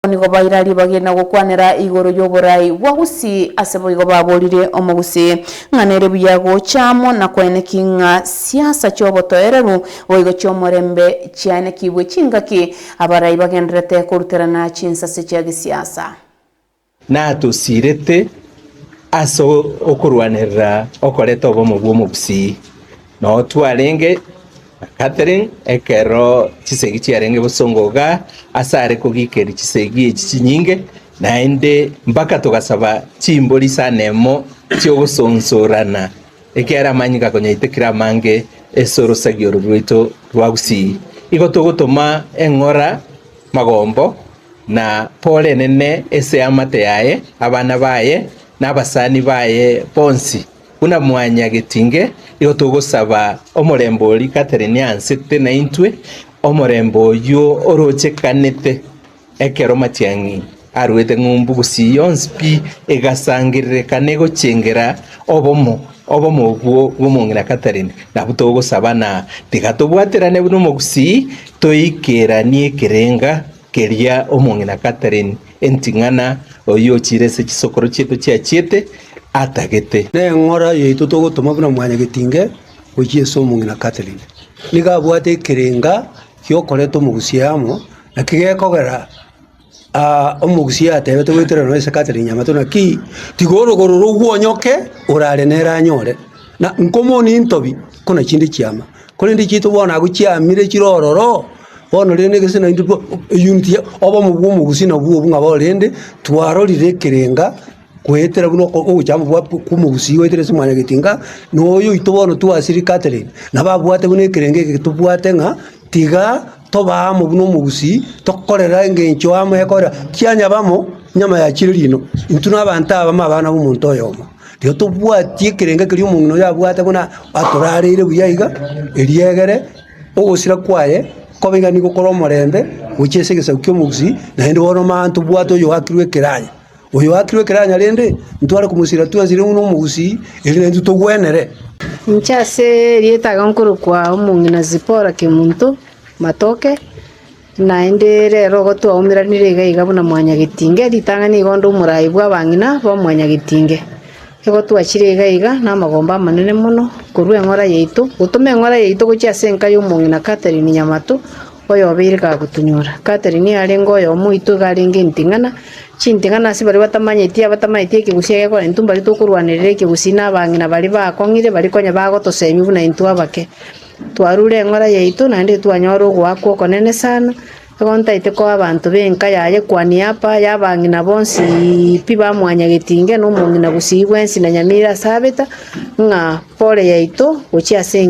Abwo nigo baira ribaga na gokwanera igoro y'oborai bwa Gusii, ase boigo baborire Omogusii ng'a nere buya gocha amo na kwaeneki ng'a siasa chi'obotoereru boigo chi'omorembe chiaenekigwe chingaki abarai bagenderete koruterana chinsase chia gesiasa. Natosiirete ase okorwanerera okoreta obomo bw'Omogusii. Nao twarenge na Catherine ekero chisegi chiarenge gosongoga asare kogiikeria chisegi echi chinyinge, naende mpaka togasaba chimbori isano emo chi'ogosonsorana, ekiagera amanyinga konyaitekire amange ase orosagi oro rwaito rwa Gusii. Igo togotoma eng'ora, magombo, na pore enene ase eamate yaye, abana baye, na abasani baye bonsi. Buna mwanyagetinge, nigo togosaba omorembe o rigata rine ansete naintwe, omorembe oyio orochekanete ekero matiang'i aruete ng'umbu gusii yonsi pi, egasangererekana egochengera obomo, obomo obwo bw'omong'ina Catherine. Nabwo togosaba, na tiga tobwaterane buna omogusii, toikeranie ekerenga, Keria omong'ina Catherine Enting'ana, oyio ochiire ase chisokoro chiaito chiachiete, atagete. Neng'ora yaito togotoma buna mwanyagetinge gochia ase omong'ina Catherine. Nigo abwate ekerenga giokoreta omogusia amo, naki gekogera aa omogusia atebete goetera nonya ase Catherine nyamato naki tiga orogoro rogwo onyoke orare nere anyore. Na nkomonia intobi, kona chinde chiama. Korende chiaito bono agwo chiamire chire ororo, bono rende egese naintwe twa eyuniti ya obomo bwa omogusii nabwo obwo ng'a bono rende twarorire ekerenga goetera buna oko- ogochama bwa ko- kw'omogusii goetera ase mwanyaga etinga, na oyo oito bono twasiri Catherine, nabo abwate buna ekerengo eke tobwate ng'a tiga tobe amo buna omogusii, tokorera engencho amo ekorera, kianyabamo nyama ya chire rino, intwe na abanto abamo abana b'omonto oyomo. Igo tobwati ekerengo ekeria omong'ina oyo abwate buna atorareire buya iga, erio egere ogosira kwaye kobe iga nigo kore omorembe gochia ase egesaku ki'omobisi, naende bono mambia tobwate oyoakirwe ekeranya. Oyoakirwe ekeranya rende, ntware komosira twensi rende buna omobusii, erio naintwe togwenere. Inche ase erieta aga nkorokwa omong'ina Zipora Kemunto Matoke. Naende rero igo twaumeranire iga iga buna mwanyagetinge, ritang'ani iga onde omoraai bw'abang'ina b'omwanyagetinge. Igo twachire iga iga namagomba amanene mono korwa eng'ora yaito, gotoma eng'ora yaito gochia ase enka y'omong'ina Catherine Nyamato, oyobeire kagotunyora. Catherine arenge oyomo oito iga arenge enting'ana, chinting'ana ase baria batamanyeti, abatamanyeti ekegusii egekorenta mbari tokorwanerera ekegusii na abang'ina baria bakong'ire, bari konya bagotosemia buna intwe abake. Twarure eng'ora yaito, naende twanyora ogoakwa okonene sana, nigo ntaete koa abanto b'enka yaye kuania y'Apa y'abang'ina bonsi pi ba mwanyagetinge, na omong'ina bosii bwensi, na nyamira ase abeta, ng'a pole yaito gochia ase engencho yaye.